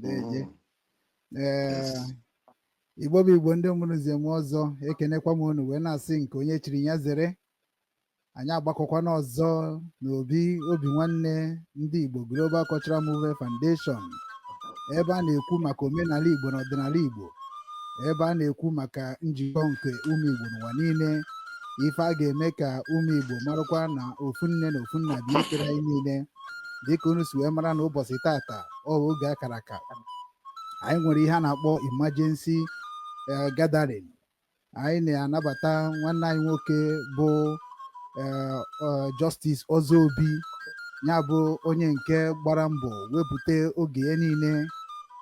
deeje igbo bụ igbo ndị mụrụ nze mụọ ọzọ ekenekwa m unu wee na-asị nke onye chiri nya zere anyị agbakọkwana ọzọ n'obi obi nwanne ndị igbo Global Cultural Movement Foundation ebe a na-ekwu maka omenala igbo na ọdịnala igbo ebe a na-ekwu maka njikọ nke ụmụ igbo n'ụwa niile ife a ga-eme ka ụmụ igbo marakwa na ofu nne na ofu nna bụ ikere anyị niile dịka unu si wee mara na ụbọsị tata ọ bụ oge a kara aka anyị nwere ihe a na-akpọ emergency eh, gathering anyị na-anabata nwanne anyị nwoke bụ eh, eh, Justice Ozobi ya bụ onye nke gbara mbọ wepụta oge ya niile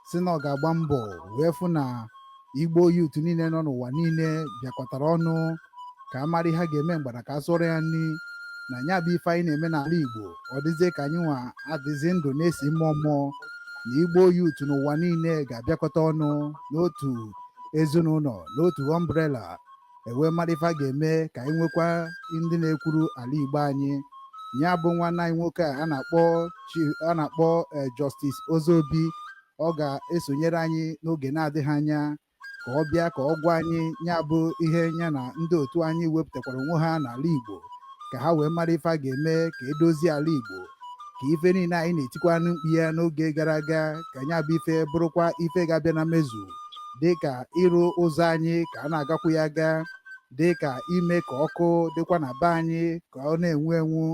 sị na ọ ga-agba mbọ wee fụ na igbo youth niile nọ n'ụwa niile bịakọtara ọnụ ka a mara ihe a ga-eme mgbada ka a sụọrọ ya nri na nya bụ ife anyị na-eme n'ala igbo ọ dịzie ka anyị nwa adịzi ndụ na-esi mmụọ mmụọ na igbo youth n'ụwa niile ga-abịakọta ọnụ n'otu ezinụlọ n'otu umbrella e wee mara ife a ga-eme ka anyị nwekwa ndị na-ekwuru ala igbo anyị ya bụ nwanne anyị nwoke a na-akpọ a na-akpọ eh, Justice Ozobi ọ ga-esonyere anyị n'oge na-adịghị anya ka ọ bịa ka ọ gwa anyị ya bụ ihe nya na ndị otu anyị wepụtakwara onwe ha n'ala Igbo ka ha wee mara ife a ga-eme ka e dozie ala Igbo ka ife niile anyị na-etikwanụ mkpu ya n'oge gara aga ka nya bụ ife bụrụkwa ife ga-abịa na mmezu dị ka ịrụ ụzọ anyị ka a na-agakwu ya aga dị ka ime ka ọkụ dịkwa na be anyị ka ọ na-enwu enwu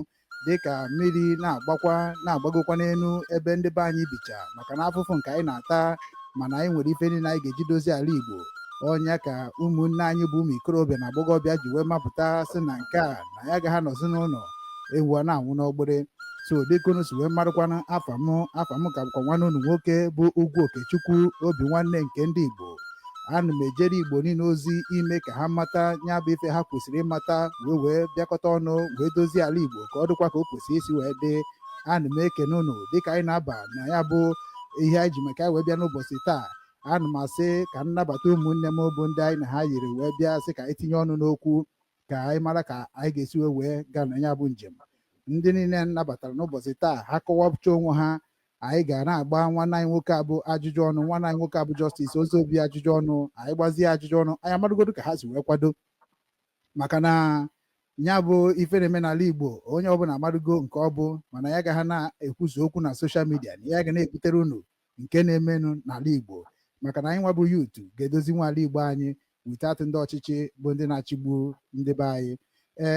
dịka mmiri na-agbakwa na-agbagokwa n'enu ebe ndị be anyị bicha maka na afụfụ nke anyị na-ata mana anyị nwere ife niile anyị ga-eji dozie ala Igbo ọ nya ka ụmụnne anyị bụ ụmụ ikorobịa na agbọghọbịa ji wee mapụta sị na nke a na ya agaghị anọzi n'ụnọ ewu ana-anwụ n'ọgbụrị so dịka unu si wee marụkwanụ afa m afa m ka bụkwa nwanne unu nwoke bụ Ugwu Okechukwu obi nwanne nke ndị Igbo ana m ejere igbo niile ozi ime ka ha mata ya bụ ife ha kwesịrị ịmata wee wee bịakọta ọnụ wee dozie ala igbo ka ọ dịkwa ka o kwesịrị isi wee dị ana m ekene unu dịka anyị na-aba na ya bụ ihe anyị ji maka ya wee bịa n'ụbọchị taa ana m asị ka m nabata ụmụnne m bụ ndị anyị na ha yiri wee bịa sị ka anyị tinye ọnụ n'okwu ka anyị mara ka anyị ga-esi wee wee gaa na ya bụ njem ndị niile nabatara n'ụbọchị taa ha kọwapụcha onwe ha anyị ga na-agba nwanne anyị nwoke a bụ ajụjụ ọnụ nwanne anyị nwoke a bụ Justice Ozobi ajụjụ ọnụ anyị gbazie ajụjụ ọnụ anyị amadugodu ka ha si wee kwado maka na ya bụ ife na-eme n'ala Igbo onye ọbụla amadugo nke ọ bụ mana anyị agaha na-ekwuzi okwu na social media na anyị ga na-ebutere unu nke na-emenụ n'ala Igbo maka na anyị nwa bụ youth ga-edozinwu ala Igbo anyị without ndị ọchịchị bụ ndị na-achịgbu ndị be anyị ee